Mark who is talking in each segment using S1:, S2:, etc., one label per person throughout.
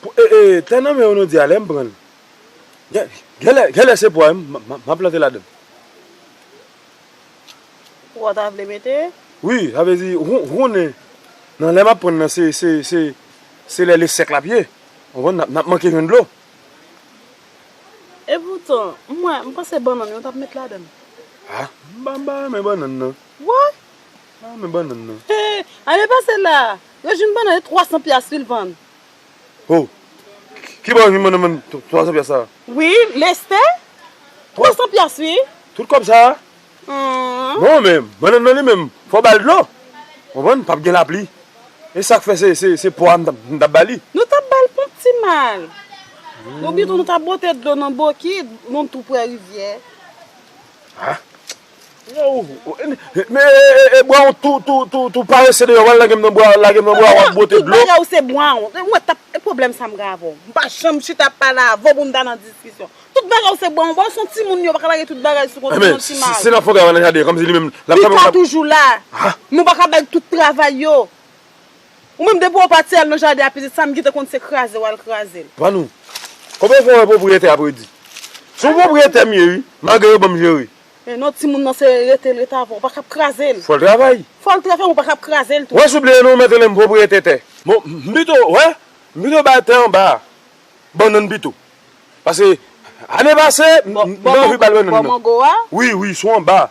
S1: Tè nan men Onodi a lè m pran l, gen lè se pwa m ap plante ladan.
S2: Pwa w ta vle mete? Wi, sa vle di
S1: ou konnen nan lè m ap pran l nan se lè li sèk l ap ye, ou konprann, n ap manke jwenn dlo.
S2: Epoutan, mwen, m panse bannann yo t ap met ladan.
S1: A, m pa renmen bannann nan. Wa?
S2: M pa renmen
S1: bannann nan. Ane pase
S2: la, rejim bannann se 300 pyas li vann. Hoo
S1: ki bò humm nan menm 300 pyas sa. Wi lestè
S2: 300 pyas wi. Tout kòb sa.
S1: Non men bannann nan li menm fò bal dlo konprann pap gen lapli esak fè se pwa m tap bali. Nou tap bal ponp
S2: ti mal. Ou bitou nou tap bote dlo nan bokit nou tou prè rivyè.
S1: Ah Me e brown tou parese deyò wal lagem nan bwa lagem nan bwa wap bwote dlo. Tout bagay ou se brown.
S2: Mwen tap e pwoblèm sa m gen avè w. M pa janm chita ap pale avè w pou m ta nan diskisyon. Tout bagay ou se brown brown son timoun yo pa ka lage tout bagay sou konte yon ti mal. Si nap fon travay nan jaden kòmsi
S1: li menm lap travay. Pita toujou la.
S2: Nou pa ka bay tout travay yo. Ou menm depi ou pati al nan jaden a pitit sam gite konn se kraze wal krazel. Vanou.
S1: Konbyen fwa ou wè pwopriyetè ap redi? Son pwopriyetè m ye wi, malgre yo banm jere. Men non timoun nan
S2: se rete l rete avan ou pa kap kraze l. Fòl travay. Fòl
S1: travay men ou pa kap
S2: kraze l tou. Wè si w bliye non ou mèt rele
S1: m pwopriyetè tè. Bon m pito wè, m pito bay tè anba a bannann pito. Pase ane pase m te anvi bal bannann nan. Bò mango a? Wi wi sou anba a.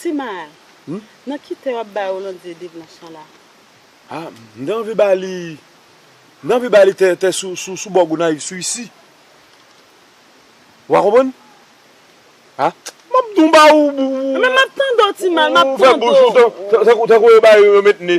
S2: Ti mal, nan ki tè wap bay Rolande de blanch lan la? Ah
S1: m te anvi ba li m te anvi ba li tè tè sou sou bò Gonayiv sou isi wa konprann ah map di w m ba w ou fè
S2: bouch ou tankou yo
S1: bay yo met ne.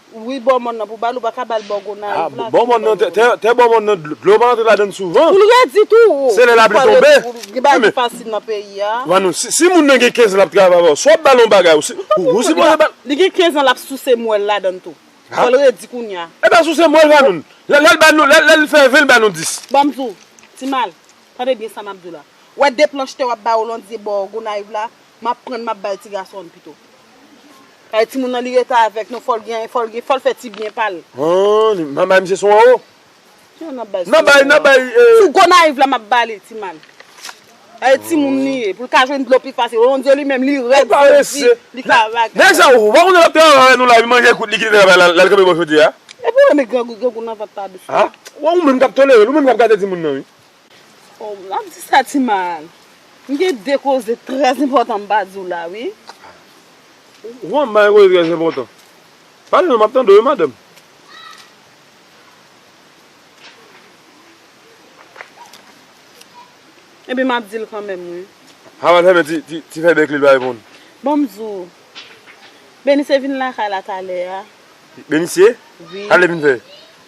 S1: Wi bò mòn nan pou
S2: bal ou pa ka bal bò gonayiv la. Bò mòn nan
S1: tè bò mòn nan dlo pa antre ladann souvan. Poul redi tou ou.
S2: Se lè lapli tonbe.
S1: Gen bagay ki fasil nan
S2: peyi a. Manou si moun nan
S1: gen 15 lap travay avèw si wap bal yon bagay ou sipoze bal. Li gen 15 an lap
S2: souse mwèl ladann tou. Fòl redi kounya. Epa souse mwèl vanoun.
S1: Lèl ba nou lèl fè 20 l ba nou 10. Banm di w
S2: timal tande byen sa map di w la. Wè de planch tè wap bay ou landie bò gonayiv la Map prann map bay ti gasonn pito. Kay timoun nan li rete avek nou fol gen fol gen fol fe ti byen pal. Humm nan bay
S1: misye sou anwo. Kijan nan bay sou anwo a. Nan bay nan bay ee. Sou Gonayiv
S2: la map bali ti mal. Kay timoun li ye pou l ka jwenn dlo pi fasil oh Dieu li menm li red li di li ka vag. Neg sa ou pa konn lap
S1: travay avek nou la li manje kout li kite travay la lal kanpe bò chodyè a. Epi ou renmen grangou
S2: grangou nan vant la doucement. Ah ou menm kap
S1: tolere'l ou menm kap gate timoun nan wi. Oh
S2: map di sa ti mal. M gen 2 koze trè enpòtan m pa di w la wi.
S1: Wan m ba yon koze trè enpòtan. Pale non map tande w wi madanm.
S2: Ebyen map di l kanmenm wi. Harold fèmen
S1: ti fè bèk li l pa reponn. Bon m di w.
S2: Benise vin lakay la talè a. Benise?
S1: Sa l te vin
S2: fè?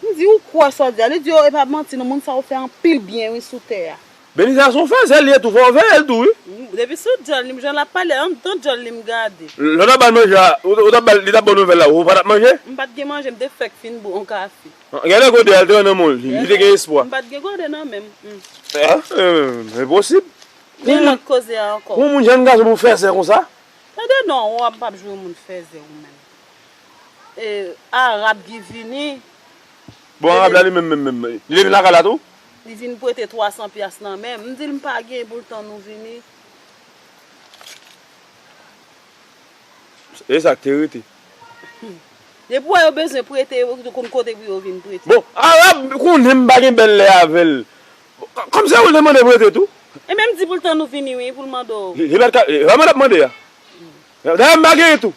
S2: M di ou kwè sa w di a. Li di yo e pa manti non moun sa yo fè anpil byen wi sou tè a. Benita son fèzè
S1: li ye tou fòk w veye l tou wi. Depi sou dyòl
S2: li m jan lap pale an dan dyòl li m gade. Lè w tap bal manje a
S1: ou tap bal li tap baw nouvèl la ou patap manje? M pat gen manje m te
S2: fèk fin bwe yon kafe. Gen lè gode a li te
S1: nan menw li te gen espwa. M pat gen gode nan menm
S2: m. Ahh
S1: enposib. Gen lòt
S2: koze a ankò. Pou yon moun jèn gason pou
S1: fèzè konsa. Tande non ou
S2: ap jwe moun fèzè ou menm. E Arab ki vini. Bon Arab
S1: la li menm menm menm. Li te vin lakay la tou? Li vin prete
S2: 300 pyas nan menm. M di l m pa gen pou l tann ou vini.
S1: E sa k te rete?
S2: Depi w wè yo bezwen prete yo yo konn kote pou yo vin prete. Bon Arab
S1: konnen m pa gen bèl lè avè l. Kòm se ou l te mande prete tou. E menm di pou l tann
S2: ou vini wi pou l mande w. Li pa t ka. Sa mwen t ap
S1: mande a. Dayè m pa genyen tou.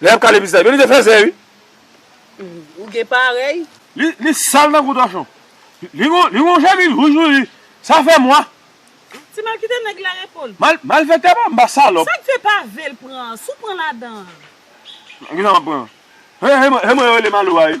S1: Lè yap kale bizay. Men li te fèzè wi.
S2: Ou gen parèy. Li sal
S1: tankou tòchon. Li gon chemiz wouj tou li. Sa fè mwa. Ti mal
S2: kite nèg la repo l. Malfèktè pa anba
S1: salòp. Sak fè pa vel
S2: pran an. Si w pran ladan an.
S1: Kisa map pran an. Se mwen yo rele malo a wi.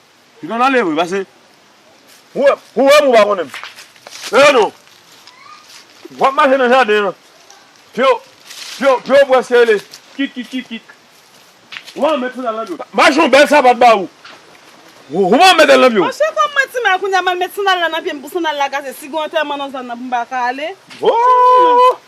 S1: Li konn ale vre pase. Ou wèm ou pa konnenm. Eeh non. Wap mache nan jaden an. Pyew pyew preske rele kikikikik. Ou pa met sandal nan pyew. Mache yon bèl sapat ba ou. Ou pa metel nan pyew. Monchè kòm mwen ti mal
S2: kounya mal met sandal la nan pyem pou sandal la kase si gen antèman nan zòn nan pou m paka ale. Ooh.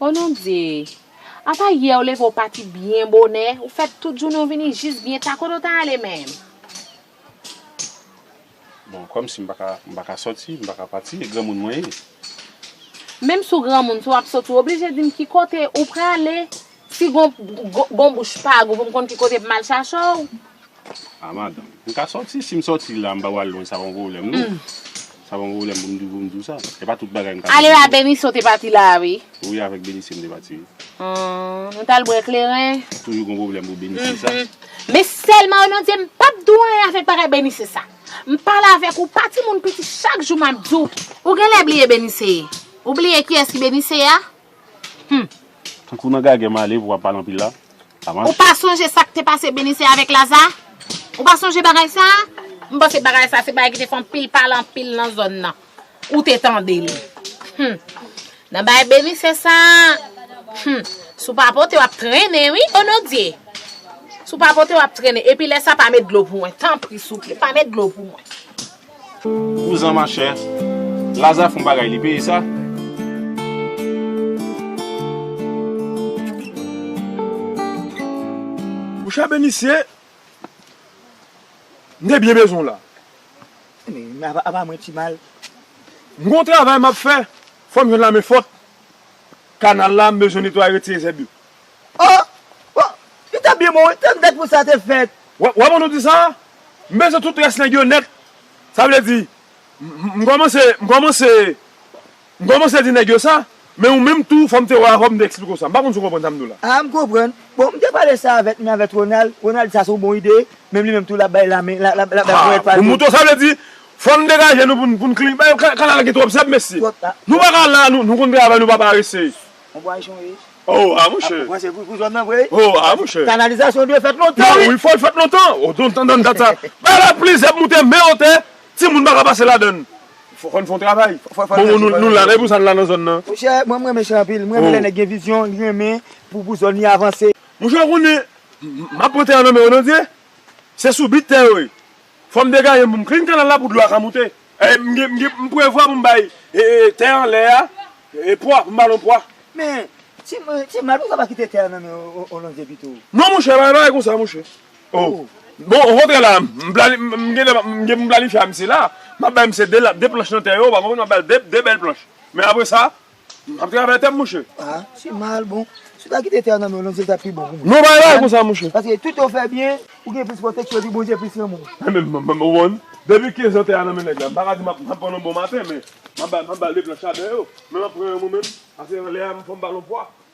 S1: O non Bdye!
S3: Apa yè ou leve ou pati byen bonè, ou fè tout jounen ou vini jis byen ta kote ou ta ale menm?
S4: Bon, kòmsi m pa ka, m pa ka sòti, m pa ka pati, e granmoun mwen ye.
S3: Menm si w granmoun, si w ap sòti, w oblije di m ki kote ou prale, si gon, gon bouch pag ou pou m konn ki kote pou m al chache w.
S4: A madanm, m ka sòti, si m sòti la, m pa pral lwen, sa pa yon pwoblèm non. Sa pa yon pwoblèm pou m di, pou m di w sa. Se pa tout bagay m ka di. Ale a Benise w te
S3: pati la a wi. Wi, avèk Benise m te
S4: pati wi. Hum, nou
S3: t al bwè kleren. Toujou gon pwoblèm pou
S4: Benise sa. Men sèlman
S3: o non Dye m pap di w anyen avèk bagay Benise sa. M pale avèk ou pa timoun piti chak jou map di w. Ou genlè bliye Benise ye? Ou bliye kiyès ki Benise ye a? Hum. Tankou
S4: nan gagè male pou wap pale anpil la. Sa mach. Ou pa sonje
S3: sak te pase Benise avèk Laza? Ou pa sonje bagay sa? M panse bagay sa se bagay ki te fè anpil pale anpil nan zòn nan. Ou te tande li. Hum. Nan bay beni se sa. Hum. Sou pa pote wap trene wi onodye. Sou pa pote wap trene. Epi lè sa pa met dlo pou mwen. Tanpri souple pa met dlo pou mwen.
S4: Vouzan ma chè. Laza fon bagay li peye sa. Mouche
S1: a beni se. M te byen bezwen w la.
S5: Men apa mwen ti mal. M gon
S1: travay m ap fè. Fò m jwenn la men fòt. Kanal la m bezwen netwaye retire zèb yo. O!
S5: O! Li t ap byen bon wi. Tann dat pou sa te fèt. W ap ban nou di sa?
S1: M bezwen tout rès nèg yo nèt. Sa vle di m kòmanse, m kòmanse. M kòmanse di nèg yo sa, men ou menm tou fò m te wè w avè w m te eksplike w sa. M pa konn si w konprann sa m di w la. A, m konprann. Bon,
S5: m te pale sa avèk men avèk Ronald, Ronald di sa se yon bon ide, menm li menm tou l ap bay lame, l ap bay ponyèt pa l tou.
S1: Mouton, sa vle di, fò n degaje nou pou n pou n klin, bay kanal la gen twòp zèb mesye. Twòp ta, twòp. Nou pa ka la, nou konn travay nou pa parese. On bwa
S5: jon ye. O, a mouche. Ou
S1: panse pou pou zòn nan vre wi.
S5: O, a mouche.
S1: Kanalizasyon dwe fèt lontan
S5: wi. Wi, fò l fèt lontan.
S1: O, dontan dan dat sa. Bay la plis zèb moute men otè. Ti moun paka pase ladann. Fò fòn fon travay. Bon bon nou la men pousa nou la nan zòn nan. Monchè mwen mrenmen chan
S5: anpil m renmen lè nèg gen vizyon li renmen pou pou zòn li avanse. Monchè ou konnen
S1: map pran tè an nan men ou non vye se sou bit tè yo ye fòm degajem poum klin kanal la pou dlo a ka moute m prevwa poum bay tè anlè a pwa poum ba nou pwa. Men
S5: ti mal pousa pa kite tè an nan men ou non vye pito. Non monchè pa gen bagay
S1: konsa monchè. Oh bon ou kontre la m gen poum planifye a misye la map bay misye 2 planche nan tè yo ou pa konprann map bal 2 bèl planche men apre sa map travay tèm mouche. Ah se mal bon
S5: si ou ta kite tè a nan men w londyel tap pi bon pou mwen. Non pa bay konsa mouche.
S1: Paske tout ou fè byen
S5: ou gen plis pwoteksyon epi bondye plis renmen w. Anben m ou konprann
S1: depi 15 an tè a nan men nèg la m paka di map pran l yon bon maten men map bal 2 planche la dèyè yo men map pran yon mwen menm paske lè a fòm bal yon fwa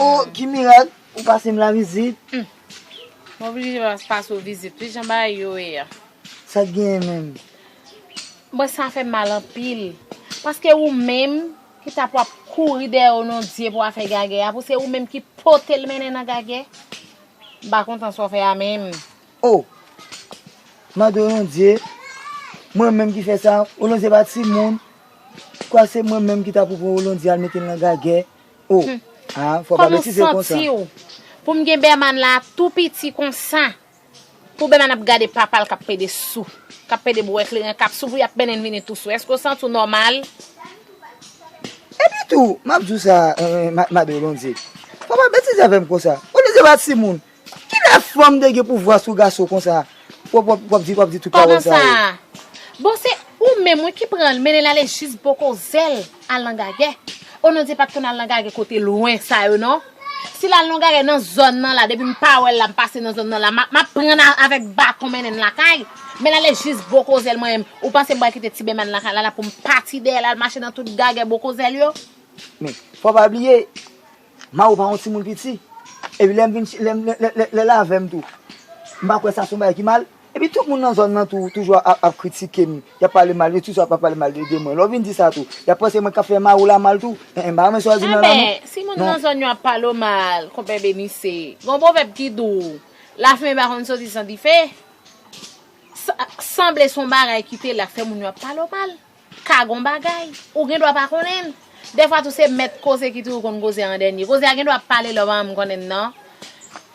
S5: Oh ki mirak ou pasem la vizit. Humm m
S3: oblije pase w vizit wi jan bagay yo ye a. Sak genyen
S5: menm.
S3: Mwen sa fem mal anpil paske ou menm ki tap wap kouri dèyè onondye pou afè gagè a pou se ou menm ki potel mennen nan gagè m pa kontan sa w fè a menm. Oh
S5: mande onondye mwen menm ki fè sa onondye pa timoun kwak se mwen menm ki ta pou pran onondye al metel nan gagè Humm kòman ou santiw pou m gen
S3: Berman la tou piti konsa pou Berman ap gade papal kap pede sou kap pede bwè kleren kap sou pou yap mennenn vini tou sou eske ou santi w nòmal.
S5: Epi tou map diw sa Mada Bondye pa pale betiz avèm konsa ou li se pa timoun Kilè fanm te gen pouvwa sou gason konsa wap di wap di tout pawòl sa yo. Koman sa?
S3: Bon se ou menm wi ki pranl mennenl ale jis bo kozel al nan gagè. O non di pat konn al nan gagè kote lwen sa yo non. Sil al nan gagè nan zòn nan la depim pa wèl la m pase nan zòn nan la map prann avèk baton mennenl lakay. Menl ale jis bo kozel mwen menm ou panse m pral kite ti bèman lakay la la poum pati dèyèl al mache nan tout gagè bo kozel yo. Men fò
S5: pa bliye. Mao pa yon timoun piti. Epi lè m vin lè lè lè l avè m tou. M pa kwè sa se yon bagay ki mal. Epi tout moun nan zòn nan tou toujou ap ap kritike m. Y ap pale mal, yo toujou ap ap pale mal de mwen. Lè w vin di sa tou, y ap panse mwen k ap fè Mao la mal tou. Hehe m pa renmen sa yo di nan la non. Enben, si moun nan zòn
S3: yo ap pale w mal, Konpè Benise, gen yon pwovèb ki di w, Lafimen pa konn soti san dife. Sa sanble se yon bagay ki te la k fè moun yo ap pale w mal. Ka gon bagay, ou gen dwa pa konnen l. Dèfwa tou se mèt koze ki toujou konn koze an dènye. Koze a gen dwa pale lè ou pa menm konnen l nan.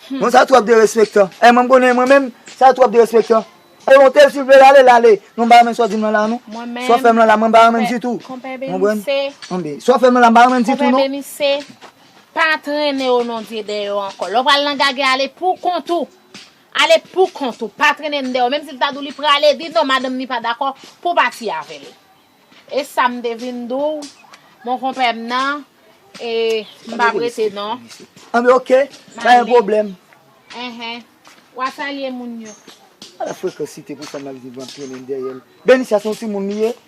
S3: Hum. Bon sa
S5: twòp derespektan. Eh mwen m konnen mwen menm, sa twòp derespektan. E monte l si l vle l ale l ale. Non m pa renmen sa w di m lan la non. Mwen menm. Sa w fè m lan la mwen m pa renmen l ditou. Konpè Beni se. Konprann? An bi. Sa w fè m lan la m pa renmen l ditou non. Konpè Beni se, pa
S3: trennen o non Dye dèyè w ankò. Lè w pral nan gagè ale pou kont ou. Ale pou kont ou, pa trennen deyò. Menm si li ta di w li prale, di non madanm ni pa dakò pou w pati avè l. E sa m te vin di w, monkonpè m nan, e m pa p rete non. Anben oke,
S5: pa gen pwoblèm. Enhen.
S3: W a salye moun yo. Ala frekansite
S5: pou fanm ap viv an trennen dèyè l. Benicia se yon timoun li ye?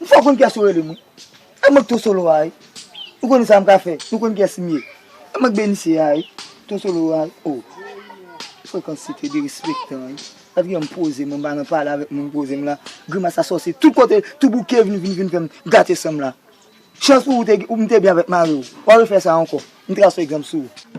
S5: M fè w konn kiyès yo rele m wi. E mwen k To Solo a wi. Nou konnen sa m ka fè. Nou konnen kiyès m ye. E mwen k Benise a wi. To Solo a wi. O! Frekans se te derespektan wi. Gad kijan m poze m, m pa nan pale avèk moun m poze m la. Grimas asòsye tout kote, tou bouke vin vin vin fè m gate san m la. Chans pou ou ou m te byen avèk mari w. Wap refè sa ankò. M tras fèy granm sou
S2: ou.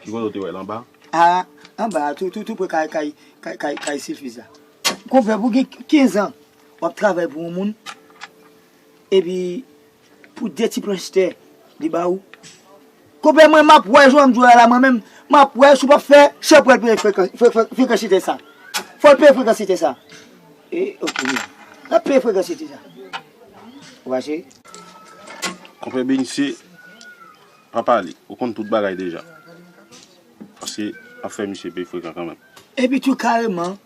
S5: Ki kote ou
S4: te wè l anba? A, anba
S5: a, tou, tou, tou pre kay, kay, kay, kay, kay Silfiz la. Konpè, pou gen kenzan w ap travay pou yon moun, epi pou de ti planch tè li ba ou. Konpè, mwen m ap wè jan w ap jwe a la mwen menm, m ap wè si w pap fè chè pou al peye frekan, fre, fre, frekansite sa. Fò l peye frekansite sa. E, ok, mwen. L ap peye frekansite sa. Ou ache?
S4: Konpè Benisye. Pa pale, ou konn tout bagay deja. Paske wap fè misye peye frekan kanmenm. Epi tou kareman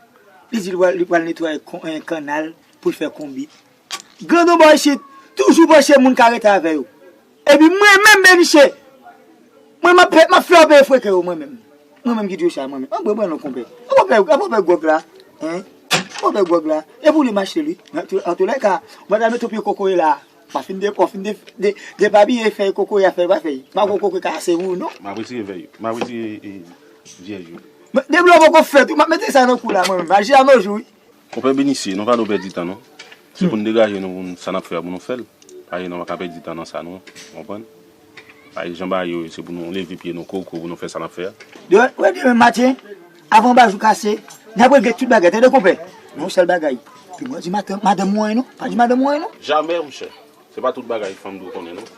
S5: li di li pral netwaye kannal pou l fè konbit. Grandon bò isit, toujou panse moun ka rete avè yo. Epi mwen menm Beniche, mwen map fè yo peye freken yo mwen menm. Mwen menm ki di yo sa mwen menm. An pran non konpè. An pran pè gwòg la. An pran pè gwòg la. E pou li mache li. Antolè ka, mwen ta mete yon pye kokoye la. Pa fin de kò, fin de de depapiye fèy koko ya fèy pa fèy. Pa gwo koko ki ka ase wou non. Map retire vèy yo, map
S4: retire e vyèj yo. Men de blo
S5: poko fèt wi, map mete sa nan kou la mwen menm, maji a nojou wi. Konpè Benicie, nou
S4: pa do pèdi tan non. Se pou n degaje nou pou n sa nap fè a pou nou fè l. Paske nou pa ka pèdi tan nan sa non, ou konprann. Bay jan ba yo, se pou nou leve pye nou koko pou nou fè sa n ap fè a. Demen demen maten,
S5: avan ba jou kase, n ap regle tout bagay, tande konpè. Men yon sèl bagay, pi bon di madanm ou anyen non, pa di madanm ou anyen non. Jamè mnchè,
S4: se pa tout bagay fanm dwe konnen non.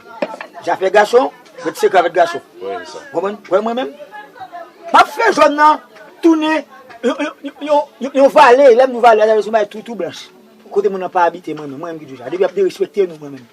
S4: Zafè
S5: gason, fè ti sekre avèk gason. Ou konprann?
S4: Wè mwen menm,
S5: m ap fè zòn nan tounen yon vale, lè m di vale a, sa vle di yon bagay tou tou blanch, kote moun nan pa abite mwen menm, mwen menm ki di w sa. Depi y ap derespekte nou mwen menm.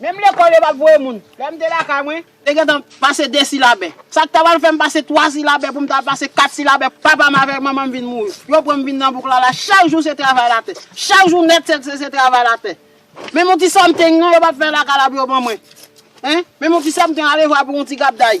S2: Menm lekòl yo pa t voye moun. Lè m te lakay mwen. Te gentan pase de silabè. Sa k ta pral fè m pase twa silabè pou m ta pase kat silabè papa m avèk manman m vin mouri. Yo pran m vin nan bouk la la. Chak jou se travay latè. Chak jou nèt se travay latè. Menm yon ti sòmting non yo pa t fè lakay la pou yo ban mwen. Menm yon ti sòmting alevwa pou yon ti gabday.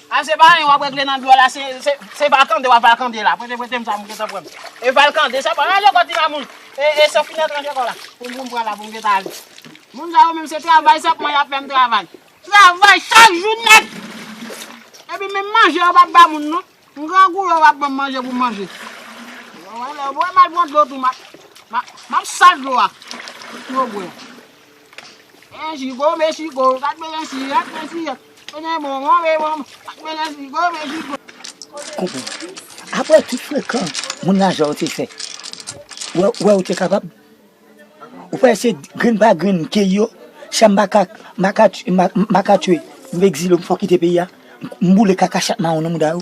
S2: A se pa anyen wap regle nan biwo la se vakande wap vakande la prete pretem sa pou m gentan pran e valkande sa pran ranje kò ti mamoun e e sofina ranje kò la pou m pran la pou m gentan ale moun sa yo menm se travay senpman yap fè m travay travay chak jou nèt epi menm manje yo pap ba moun non m grangou yo pap ban m manje pou m manje yo wè m al pran dlo tou map map sal dlo a pou yo bwè. Mè jigo mè jigo gad mele si yèk mè si yèk mele bonbon mè bonbon gad mele jigo mè jigo. Konpè, apre
S5: tout frekan moun lajan ou te fè, ou wè ou te kapab? Ou pa wè se grenn pa grenn m keyi yo? Sa m pa ka, m pa ka, m pa ka tchwe, m ekzile, m fò kite peyi a, m boule kaka chat mawon nan mouda yo?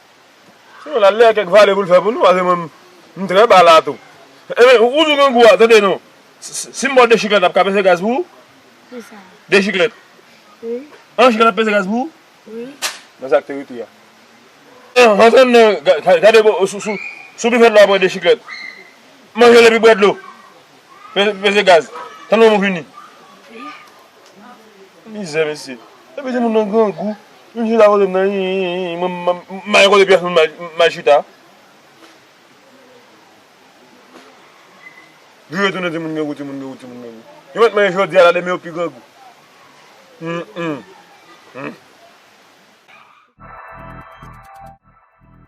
S1: Ronald lè kèk vale pou l fè pou nou pase mwen m trè ba la tou. Enben ou di w gen gou a tande non si m ba w 2 chiklèt ap ka peze gaz pou ou? Kisa?
S6: 2 chiklèt? Wi. 1 chiklèt ap peze
S1: gaz pou ou? Wi. Men
S6: sa k te rete
S1: a. Antre m nan gade sou bifèt la w ap wè 2 chiklèt. Manje l epi bwè dlo. Peze gaz. Tann w m vini. Mizè mesye. Epi timoun nan grangou. Youn chita kote m nan yin yin yin yin. Mwen mayen kote pyès moun mal chita. Jou yo tounen timoun grangou timoun grangou timoun grangou. Yo mèt mayen jodi a la demen yo pi grangou. Humm humm.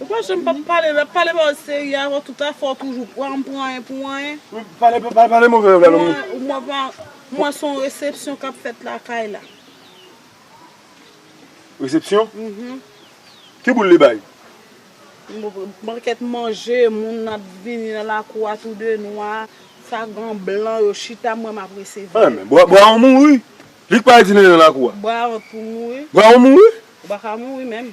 S1: Ou
S2: pa janm pa pale, lap pale ba ou serye avè ou tout a fè ou toujou pran pou anyen pou anyen. Pale pale
S1: move avè l moun. Ou mwen pa, mwen son
S2: resepsyon kap fèt lakay la.
S1: Resepsyon? Mph. Ki boul li bay?
S2: Bon kèt manje, moun ap vini nan lakou a tou de nwa, sa gan blan yo chita mwen map resevwa yo. Anmè, bwa ou
S1: mouri? Li k pa al dine nan lakou a? Bwa ou
S2: mouri? Bwa ou mouri?
S1: Ou pa ka mouri menm.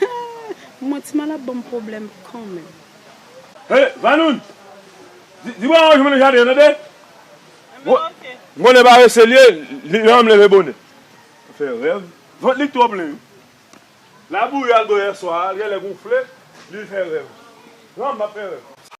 S2: Hum! Mwen ti mal ap banm pwoblèm kanmenm. Hey
S1: Vanoun! Di Baron an jwenn mwen nan jaden an tande! M konnen parese l ye, li renmn leve bone. Fè rèv, vant li k twò plen wi. Labouyi al bò yèswa a, l genlè gonfle, li fè rèv. Humm, m ap fè rèv.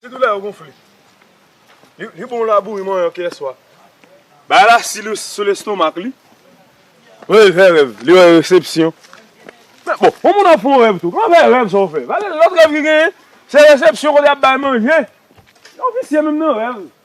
S1: Sitou lè yo gonfle. Li bon laboure manyon kè swa. Bagay la si sou lestomak li. Lè li fè rèv, li wè resepsyon. Men bon, yon moun ap fè yon rèv tou. Kòman fè rèv sa ou fè? Pase lòt rèv ki genyen, se resepsyon kote y ap bay manje. Yon visye menm nan rèv.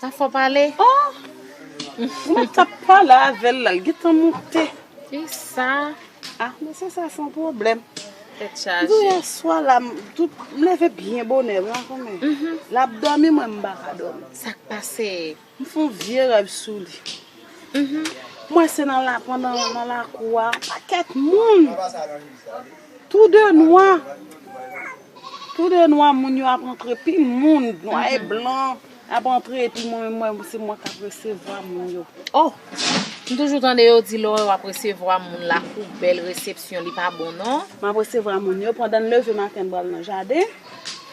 S2: Sa fò
S3: pale ohh.
S2: Mwen tap pale avel la l gentan moute. Fi sa.
S3: Ah men se
S2: sa son pwoblem. Tet chaje. Depi
S3: yeswa la m
S2: tout m leve byen bonè vre anko men. Lap domi mwen m paka domi. Sak pase.
S3: M fon vye
S2: rev sou li. Mwen se nan la pandan nan lakou a paket moun. Tou de nwa. Tou de nwa moun yo ap antre pi moun nwa e blan. Ap antre epi mwen menm mwen se mwen kap resevwa moun yo. Oh!
S3: M toujou tande yo di lè wap resevwa moun lakou bèl resepsyon li pa bon non. Map resevwa moun yo
S2: pandan m leve maten m pral nan jaden.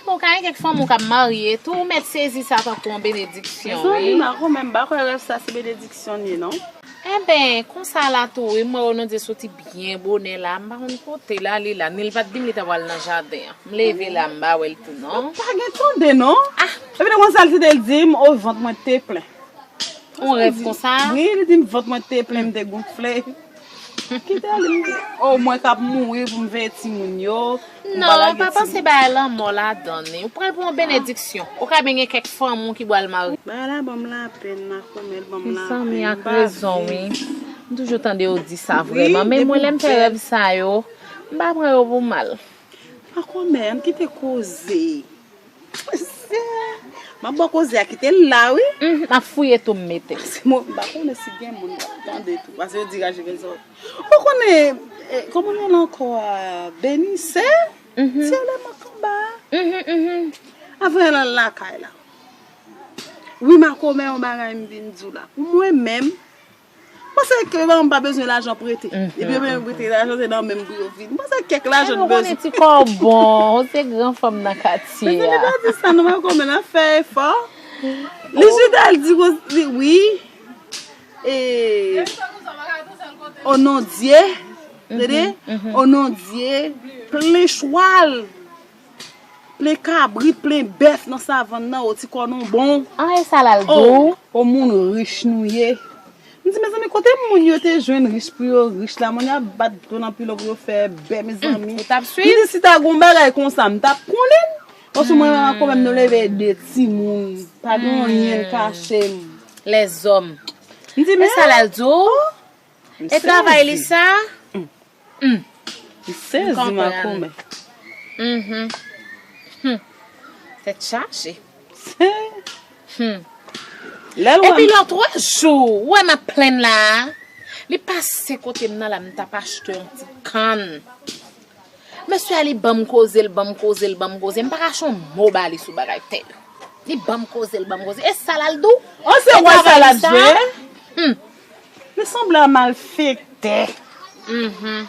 S2: Bon ka gen
S3: kèk fanm ou kap marye tou ou mèt sezi sa tankou yon benediksyon wi. Mezanmi Marco menm
S2: m pa kwè
S3: rèv
S2: sa se benediksyon l ye non. Enben,
S3: konsa la tou wi, m wè Onodye soti byen bonè la a, m pa konn kote l ale la. Ni l pa t di m li ta pral nan jaden an. M leve la a, m pa wè l tou non. Ou pa gen tande non.
S2: Epi li konn sa l te di m, o vant mwen te plen. On rèv
S3: konsa? Wi, li di m vant mwen
S2: te plen, m te gonfle. Kite l, m di, o mwen k ap mouri pou m veye timoun yo. Non, pa panse
S3: bagay lanmò ladan li. Ou pral pran yon benediksyon. Ou ka byen gen kèk fanmi w ki pral marye. Bagay la banm lapenn
S2: makomèl banm lapenn. Mezanmi ak rezon
S3: wi. M toujou tande yo di sa vrèman men mwen lèm fè rèv sa yo m pa pran yo pou mal. Makomè
S2: ann kite koze. Map bo koze a kite l la wi. Humm map fouye tou m
S3: mete. Bon m pa konnen
S2: si gen moun kap tande tou pase yo di rajivin sa ou pa konnen koman l rele anko a benise se yo le map anba a avè l al lakay la wi makomè yon bagay m vin di w la pou mwen menm. Panse kèk lajan pa bezwen lajan prete. Depi yo bezwen prete lajan se nan menm pou yo vini. Panse kèk lajan nou bezwen. Epi ou konnen ti
S3: kò w bon, ou se gran fanm nan katye a. Mwen tande pa di
S2: sa
S3: non mwen
S2: konn men nan fè efò. Lijida al di kou si wi. E. O non Dye. Tande. O non Dye. Plen chwal. Plen kabrit, plen bèf nan savann nan o ti kò nou bon. An e sa lal dou.
S3: O moun rich
S2: nou ye. M di mezanmi kote moun yo te jwenn rich pou yo rich la moun ap bat do nan pilon pou yo fè bè mezanmi. Ou tap swiv? M di si ta
S3: gon
S2: bagay konsa m tap konnen n. Paske mwen menm ak kò menm nou leve 2 timoun pa gen anyen l kache m. Lèzòm.
S3: M di men. E sa
S2: lal di w?
S3: E travay li sa? Humm.
S2: M sezi makomè. Uhmm.
S3: Humm. Tèt chaje. Humm. Lè l wè m. Epi lò
S2: twa
S3: jou ou wè m ap plenn la a, li pase kote m nan la m t ap achte yon ti kann. Mesye a li ban m koze, l ban m koze, l ban m koze, m pa kache yon mo ba li sou bagay tè yo. Li ban m koze, l ban m koze. E sa l al di w? Ou se wè sa l
S2: ap di? Humm. Li sanble a malfekte. Uhmm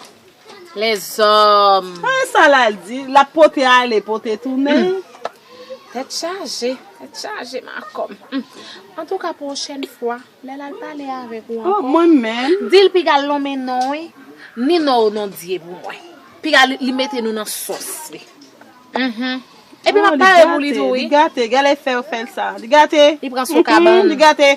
S3: lèzòm. Tande sa lal di
S2: lap pote ale pote tounen. Tèt
S3: chaje tèt chaje makom. Antouka pwochèn fwa lè lal pale avèk ou ankò. Mwen menm.
S2: Dil pigal lonmen
S3: non wi. Ni non ou non dye pou mwen. Piga li mete nou nan sòs li. Uhmm epi map pare pou li tou wi. Li gate gade lè fel
S2: sa. Li gate. Li pran sou kabann.
S3: Li gate.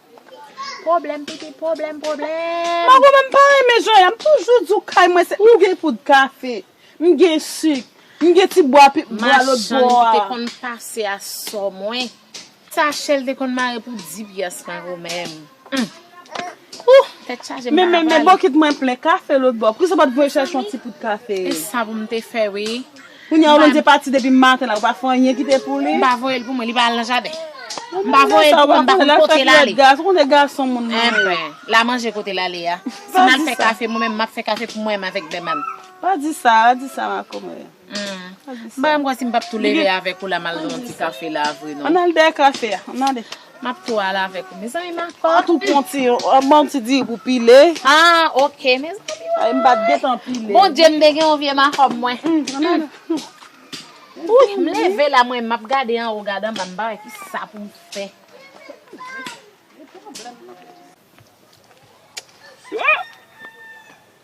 S3: Pwoblèm pitit pwoblèm pwoblèm.
S2: Mago menm pa renmen jan ya m toujou di w kay mwen se. M gen poud kafe, m gen sik, m gen ti bwa pi bwa lotbò a. Machann ki te konn pase
S3: a sò mwen. Sache l te konn mare pou di pyès mago menm. Humm ooh tèt chaje m pa ka pale. Men men bokit mwen
S2: plen kafe lotbò. Poukisa w pa t voye chèche yon ti poud kafe. E sa pou m te fè
S3: wi. Kounya ou lonje
S2: pati depi maten la ou pa fè anyen kite pou li. M pa voyel pou mwen li pa al nan
S3: jaden. M pa voyel pou mwen m pa konn kote l ale. Ou konnen gason
S2: moun nan. Enben, la manje
S3: kote l ale a. Si m al fè kafe mwen menm m ap fè kafe pou mwen m avèk Beman. Pa di sa, pa
S2: di sa ma komè. M pa
S3: janm kwè si m pap tou leve avèk ou la m al nan yon ti kafe la vre non. Ann al dèyè kafe a, ann
S2: ale. Map tou al avek
S3: ou mezanmi ma kò. An tou pwan ti yon
S2: an banm ti diri pou pile. Ah ok mezanmi
S3: woy. Ay m pat gentan
S2: pile. Bondye m te gen yon vye
S3: makòb mwen. Ooh m leve la mwen map gade anwo gade anba m pa wè kisa poum fè.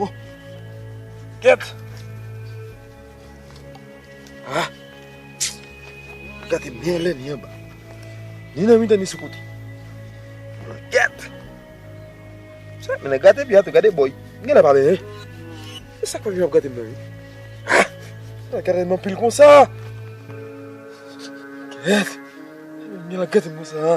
S1: Oh! Kèt! Ah! Gade mè lè ni yon ba. Ni nan mitan ni sou kote. Kèt! Sa mè lè gade biyat ou gade boy. Mè lè pa mè lè. E sa kwen yon ap gade mè yon. Ah! Mè lè gade mè yon pil kon sa. Kèt! Mè lè gade mè yon sa.